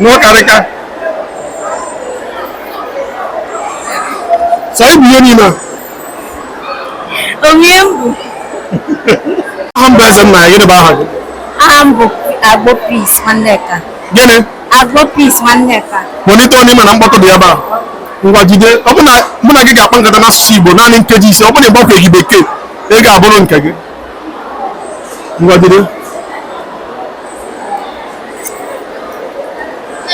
n'ọkarịka sọ ibu ihe niile a Onye mbụ aha m bụ Ezennaya gịnị bụ aha gị aha m bụ Agbo Peace Nwanneka. gịnị Agbo Peace Nwanneka. kpọlite ọnụ ị ma na mkpọtụ dị ebe a ngwa jide ọ bụ na mụ na gị ga-akpa nkata n'asụsụ igbo naanị nkeji ise ọ bụ na ị gbakwaghị bekee ọ ga-abụrụ nke gị ngwa jide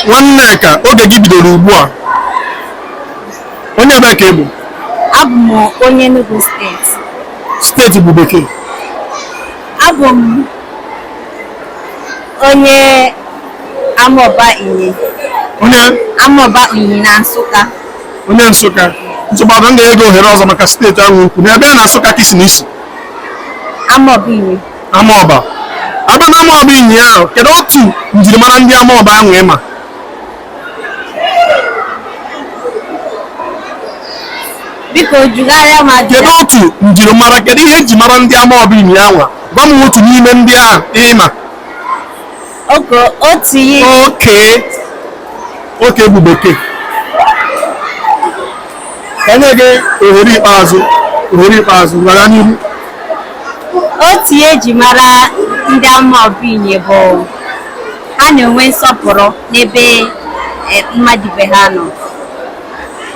Nwanneka oge gị bidoro ugbu a onye ebee ka ị bụ abụ m onye Enugu steeti steeti bụ bekee abụ m onye Amaọba Inyi onye Amaọba Inyi na Nsụka onye Nsụka nsogbu adịrọ m ga-enye gị ohere ọzọ maka steeti ahụ i kwu na ebee na Nsụka ka i si na i si Amaọba Inyi amaọba abịa na amaọba inyi ahụ kedu otu njirimara ndị amaọba ahụ ị ma biko jụgharịa m ajụjụ kedu otu njirimara kedu ihe e ji mara ndị amaọba inyi ahụ gwa m otu n'ime ndị ahụ ị ma Okay otu ihe. Okay. Okay bụ bekee. Ka m nye gị ohere ikpeazụ. Ohere ikpeazụ gara n'ihu. Otu ihe e ji mara ndị Amaọba Inyi bụ ha na-enwe nsọpụrụ n'ebe eh, mmadụ ibe ha nọ.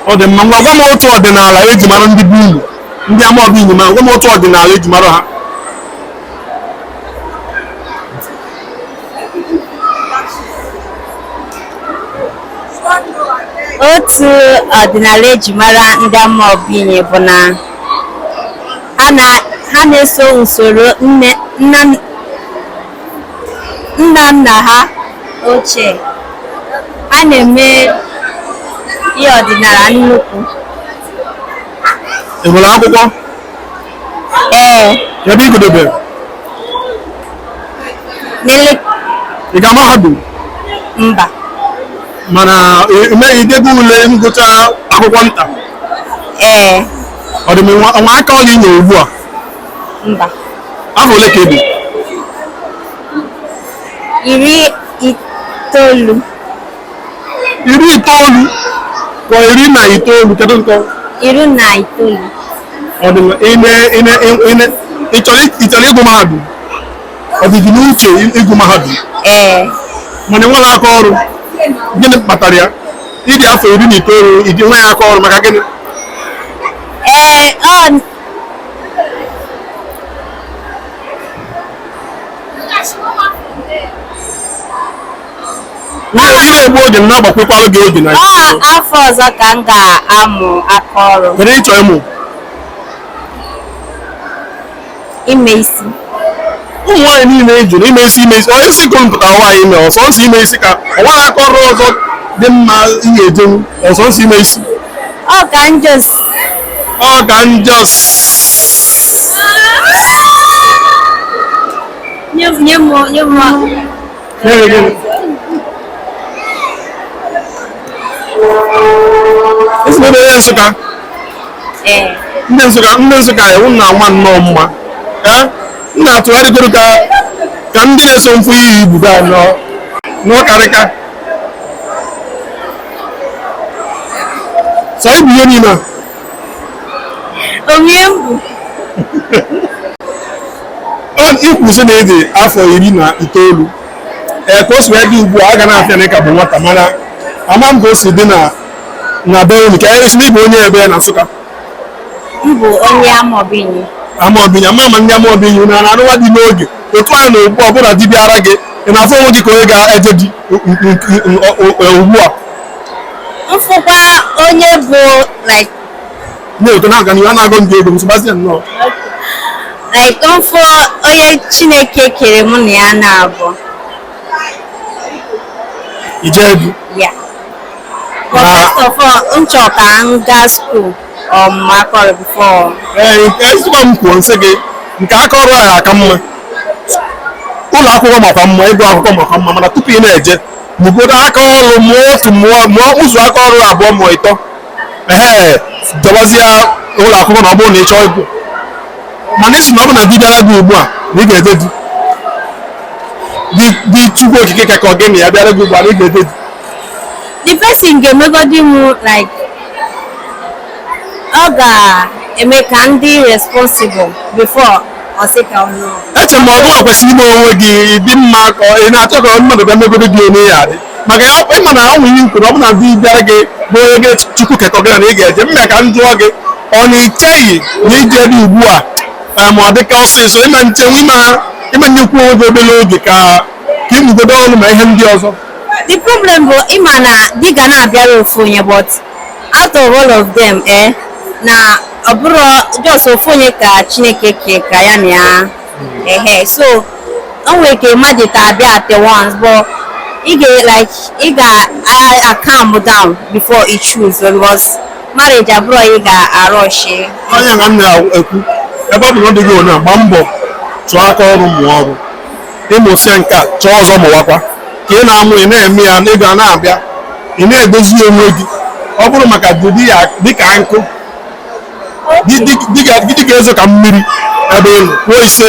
Ọ dị mma ngwa gwa m otu ọdịnala e ji mara ndị bụ unu ndị Amaọba Inyi ma gwa m otu ọdịnala e ji mara ha. otu ọdịnala e ji mara ndị Amaọba Inyi bụ na ha na- ha na-eso usoro nne nna nna nna ha ochie a na-eme ihe ọdịnala nnukwu Ị gụrụ akwụkwọ? Ee. Ebee ị gụdobe? Nile. Ị gara mahadum? Mba. Mana m ma i dego ule ngụcha akwụkwọ nta? Ee. Ọ dị mma. O nwe aka ọrụ i nwe ugbu a? Mba. Afọ ole ka ị dị? Iri itoolu. iri itoolu ka iri na itoolu kedu nke iri na itoolu ọ dị mma ime ime ime ị chọrọ ị chọrọ ịgụ mahadum ọ dị gị n'uche ịgụ mahadum ee mana i nweghị aka ọrụ gịnị kpatara ya ị dị afọ iri na itoolu i nweghị aka ọrụ maka gịnị ee ọ na-egbu oge na agbakwukwara gị oge na afọ ọzọ ka m ga-amụ aka ọrụ kedu ị chọ ịmụ ime isi ụmụ nwaanyị niile a jụrụ ime isi ime isi onye isi ka mpụtara nwaanyị ime ọ sọọsọ ime isi ka o nweghị aka ọrụ ọzọ dị mma ihe ejenwu ọ sọọsọ ime isi ọ ka m just ọ ka m just nye m nye m nye m Nsụka ndị Nsụka ndị Nsụka unu na-ama nnọọ mma m na-atụgharịgoro ka ka ndị na-eso m fụ iyi ibudo anọ n'ọkarịka sọ ibu ihe niile Onye mbụ. I kwu sị na ị dị afọ iri na itoolu ee ka o si wee dị ugbu a a ga na-afụ ya na ị ka bụ nwata mana ama m ka o si dị na na be unu ka ị sị na ị bụ onye ebe na Nsụka M bụ onye Amọbinyi. Amọbinyi ama m ma ndị Amọbinyi na na-anụwa di n'oge otu a na ugbu ọ bụ na di bịara gị ị na-afụ onwe gị ka onye ga-eje di ugbu a m fụkwa onye bụ like na-eto na-aga n'ihu a na-agọ ndị ego nsogbazie nnọọ like m fụ onye chineke kere mụ na ya na-abụ ije be ya but first of all m chọrọ ka m gaa school mụọ aka ọrụ before ee nke ezigbo m kwuo m sị gị nke aka ọrụ ahụ aka mma ụlọ akwụkwọ makwa mma ịgụ akwụkwọ makwa mma mana tupu ị na-eje mụgodo aka ọrụ mụọ otu mụọ mụọ ụzọ aka ọrụ abụọ mụọ ịtọ ee dọbazie ụlọ akwụkwọ na ọ bụrụ na ị chọọ ịgụ mana ị sị na ọ bụ na di bịara gị ugbu a na ị ga-eje di di di chukwu okike kekọ gị na ya bịara gị ugbu a na ị ga-eje di the person ga-emegodi m like ọ ga-eme ka m dị responsible before ọ sị ka ọ nọ eche m ma ọ gịwa kwesịrị ime onwe gị ị dị mma ka ọ- ị na-achọ ka mmadụ bịa megodo gị onye ya adị maka ya ọ- ị ma na o nwere i kwu na ọ bụ na di bịara gị bụ onye gị chukwu kekọ gị na ị ga-eje mme ka m jụọ gị ọ na icheghị na ije di ugbu a eh, ma ọ dị ka ọsịsọ ime nchenwu ime ị ma-enyekwu onwe gị obere oge ka ka ị mụgodo ọrụ ma ihe ndị ọzọ the problem bụ ị ma na di ga na-abịara ofu onye but out of all of them eh na ọ bụrụ just ofu onye ka chineke kekọ ya na ya ehe so o nwere ike mmadụ ịtọ abịa at once but ị ga like ị ga-acalm down before you choose because marriage abụrọ ị ga-arush onye ka m na-ekwu ebe ọ bụ na ọ dịghị onye a, gbaa mbọ chụọ aka ọrụ mụọ ọrụ ị mụsịa nke a chọọ ọzọ mụwakwa ka ị na-amụ ị na-eme ya ego a na-abịa ị na-edozi onwe gị ọ bụrụ maka di ya dịka nkụ di ga-ezo ka mmiri ebe ị nọ kwuo ise